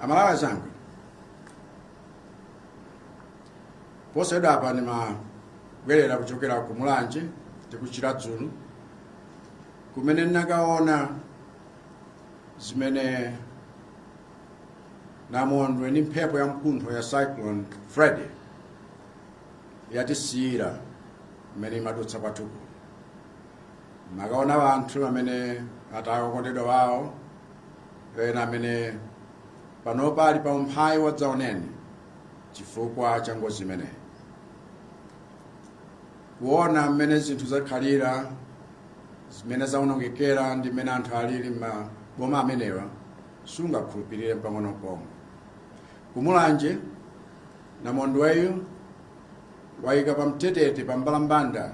aMalawi anzanga posachedwa apa ndimabwerera kuchokera ku mulanje ndi ku chiradzulu kumene ndinakaona zimene namondwe ndi mphepo ya mkuntho ya cyclone freddy yatisiyira mmene imadutsa kwathu kuno nakaona wanthu amene ataya okondedwa wawo ena amene panopa ali pa umphawi wadzaoneni chifukwa cha ngozi imeneyi kuona mmene zinthu zakhalira zimene zaonongekera ndi mmene anthu alili m'maboma amenewa sungakhulupirire mpang'ono pomwe ku mulanje namondweyu wayika pa mtetete pa mbalambanda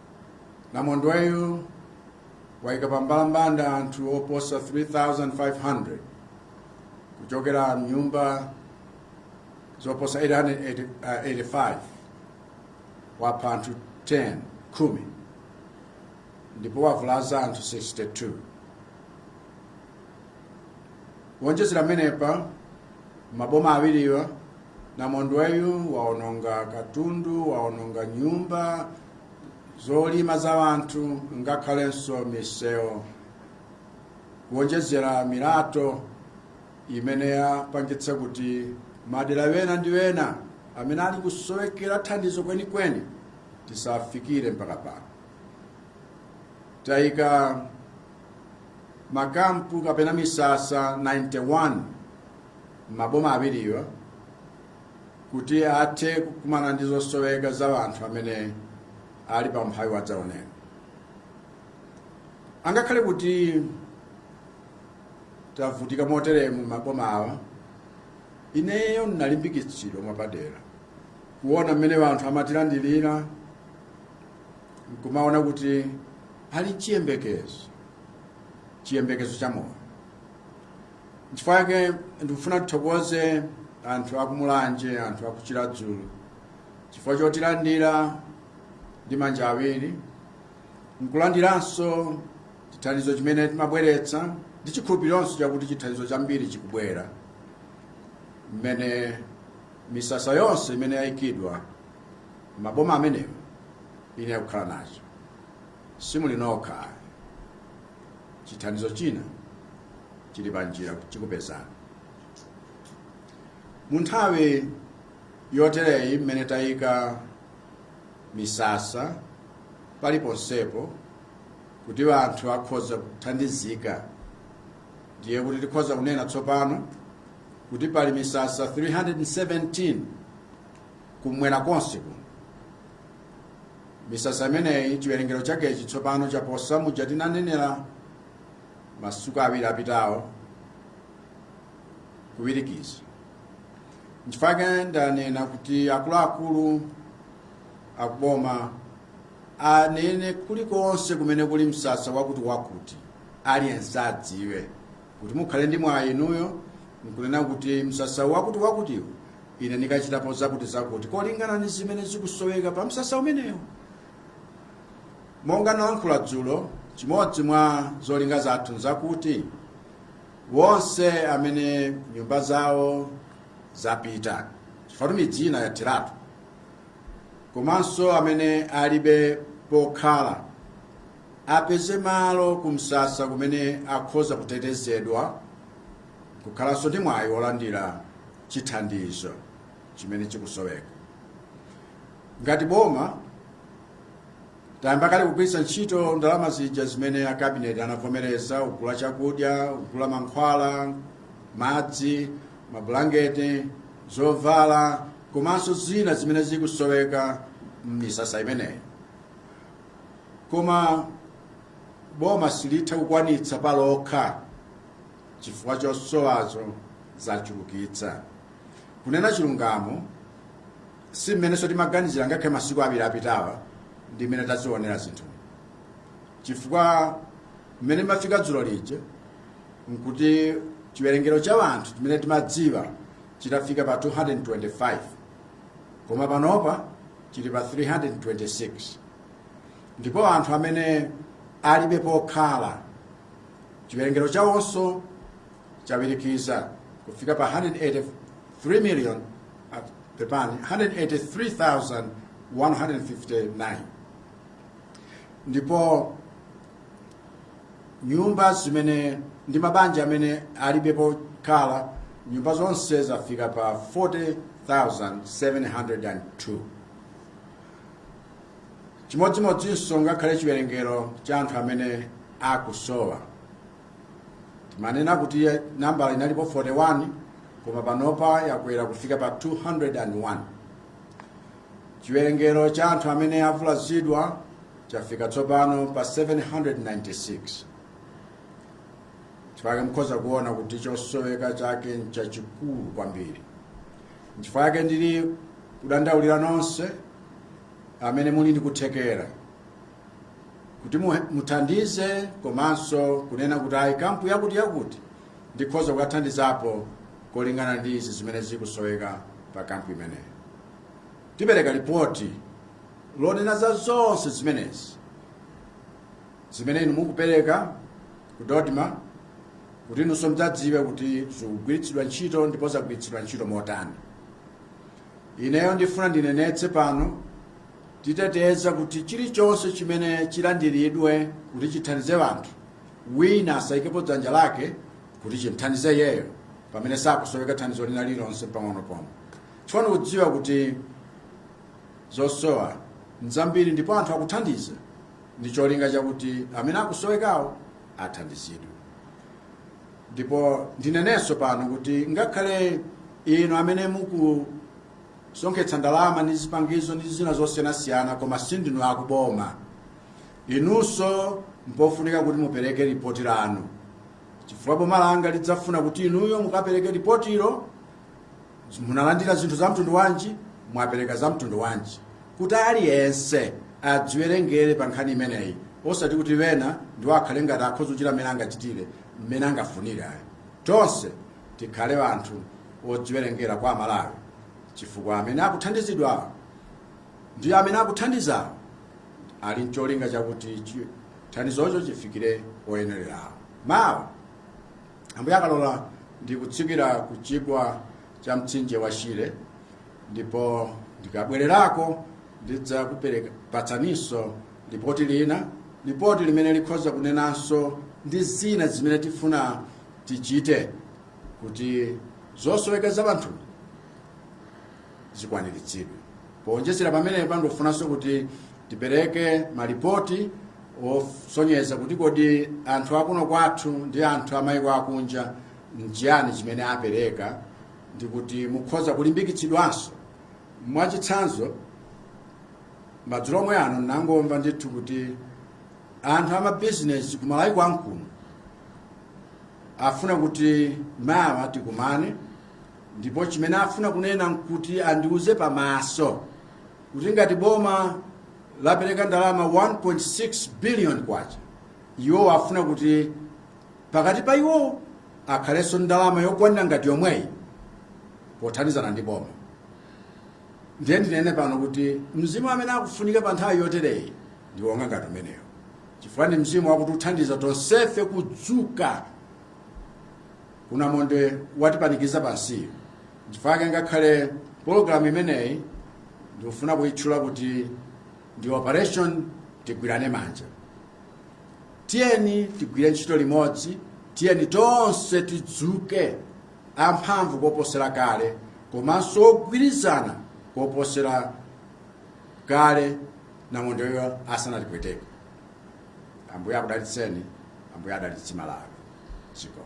Namondweyu waika pambalambanda anthu oposa 3,500 kuchokera mnyumba zoposa 885 wapha anthu 10 khumi ndipo wavulaza anthu 62 kuonjezera pamenepa m'maboma awiriwa namondweyu waononga katundu waononga nyumba zolima za anthu ngakhalenso misewu kuonjezera milatho imene yapangitsa kuti madera wena ndi wena amene ali kusowekera thandizo kwenikweni tisafikire mpaka pano tayika makampu kapena misasa 91 m'maboma awiriwa kuti athe kukumana ndi zosoweka za anthu amene ali pa umphawi wadzaoneni angakhale kuti tavutika moteremu m'maboma awa ineyo ndinalimbikitsidwa mwapadera kuona mmene anthu amatilandirira nkumaona kuti ali nchiyembekezo chiyembekezo cha moyo nchifukwa yake ndikufuna tithokoze anthu a ku mulanje anthu a ku chiradzulu chifukwa chotilandira ndi manja awiri nkulandiranso chithandizo chimene timabweretsa ndi chikhulupirironso chakuti chithandizo chambiri chikubwera mmene misasa yonse imene yayikidwa m'maboma amenewo idzayamba kukhala nacho simuli nokha chithandizo china chili panjira chikupezani mu nthawi yotereyi mmene tayika misasa paliponsepo kuti anthu akhoza kuthandizika ndiye kuti tikhoza kunena tsopano kuti pali misasa 317 kumwera konse kuno misasa imeneyi chiwerengero chakechi tsopano chaposa muja tinanenera masiku awiri apitawo kuwirikiza nchifukwa chake ndanena kuti akuluakulu akuboma anene kulikonse kumene kuli msasa wakuti wakuti aliyense adziwe kuti mukhale ndi mwayi inuyo nkunena kuti msasa wakuti wakutiwo ine ndikachitapo zakuti zakuti kolingana ndi zimene zikusoweka pa msasa umenewo monga nalankhula dzulo chimodzi mwa zolinga zathu nzakuti wonse amene nyumba zawo zapita chifukwa midzi ina yathiratu komanso amene alibe pokhala apeze malo kumsasa kumene akhoza kutetezedwa kukhalanso ndi mwayi wolandira chithandizo chimene chikusoweka ngati boma tayamba kale kugwiritsa ntchito ndalama zija zimene akabineti anavomereza kugula chakudya kugula mankhwala madzi mabulangeti zovala komanso zina zimene zikusoweka m'misasa imeneyi koma boma silitha kukwanitsa palokha chifukwa zosowazo zachulukitsa kunena chilungamo si mmenenso timaganizira ngakhale masiku awiri apitawa ndi mmene tazionera zinthu chifukwa mmene ndimafika dzulo lija nkuti chiwerengero cha anthu chimene timadziwa chitafika pa 225 koma panopa chili pa 326 ndipo anthu amene alibe pokhala chiwerengero chawonso chawirikiza kufika pa 183 million pepani 183,159 ndipo nyumba zimene ndi mabanja amene alibe pokhala nyumba zonse zafika pa 40702 chimodzimodzinso ngakhale chiwerengero cha anthu amene akusowa timanena kuti nambala inalipo 41 koma panopa yakwera kufika pa 201 Chiwerengero cha anthu amene avulazidwa chafika tsopano pa 796. Chifukwa chake mukhoza kuona kuti chosoweka chake nchachikulu kwambiri. Nchifukwa chake ndili kudandaulira nonse amene muli ndi kuthekera kuti mu- muthandize komanso kunena kuti ayi kampu yakuti yakuti ndikhoza kukathandizapo kolingana ndi izi zimene zikusoweka pa kampu imeneyi. tipereka lipoti lonena za zonse zimenezi zimene inu mukupereka ku dodma kuti inunso mudzadziwe kuti zikugwiritsidwa ntchito ndipo zagwiritsidwa ntchito motani ineyo ndifuna ndinenetse pano titeteza kuti chilichonse chimene chilandiridwe kuti chithandize anthu wina asayikepo dzanja lake kuti chimthandize yeyo pamene sakusoweka thandizo lina lilonse pang'ono pomwe Chifukwa ndikudziwa kuti zosowa nzambiri ndipo anthu akuthandiza ndi cholinga chakuti amene akusowekawo athandizidwe ndipo ndinenenso pano kuti ngakhale inu amene mukusonkhetsa ndalama ndi zipangizo ndi zina zosiyanasiyana koma sindinu akuboma inunso mpofunika kuti mupereke ripoti lanu chifukwa boma langa lidzafuna kuti inuyo mukapereke ripotilo munalandira zinthu za mtundu wanji mwapereka za mtundu wanji kuti aliyense adziwerengere pa nkhani imeneyi osati kuti wena ndiwo akhale ngati akhoza kuchita mmene angachitire mmene angafunire ayi tonse tikhale anthu odziwerengera kwa amalawi chifukwa amene akuthandizidwawo ndi amene akuthandizawo ali ncholinga chakuti chi- thandizocho chifikire oyenererawo mawa ambuye akalola ndikutsikira ku chigwa cha mtsinje wa shire ndipo ndikabwererako ndidzakupatsaninso lipoti lina lipoti limene likhoza kunenanso ndi zina zimene tifuna tichite kuti zosoweka za wanthu zikwaniritsidwe Poonjezera pamenepa ndikufunanso kuti tipereke malipoti osonyeza kuti kodi anthu akuno kwathu ndi anthu amayiko akunja nchiyani chimene apereka ndi kuti mukhoza kulimbikitsidwanso. Mwachitsanzo, madzulo omwe ano ndinangomva ndithu kuti anthu amabizinesi ku Malawi kwathu kuno afuna kuti mawa tikumane ndipo chimene afuna kunena nkuti andiuze pamaso kuti ngati boma lapereka ndalama 1.6 billion kwacha iwo afuna kuti pakati pa iwo akhale nazo ndalama yokwanira ngati yomweyi pothandizana ndi boma ndiye ndinene pano kuti mzimu umene ukufunika pa nthawi yotereyi ndi wonga ngati umeneyo chifukwa ndi mzimu wakuti uthandiza tonsefe kudzuka ku namondwe watipanikiza pansiyo chifukwa chake ngakhale program imeneyi ndikufuna kuyitchula kuti ndi operation tigwirane manja tiyeni tigwire ntchito limodzi tiyeni tonse tidzuke amphamvu koposera kale komanso ogwirizana koposera kale namondweyo asanatipweteke ambuye akudalitseni ambuye adalitse malawi chikomo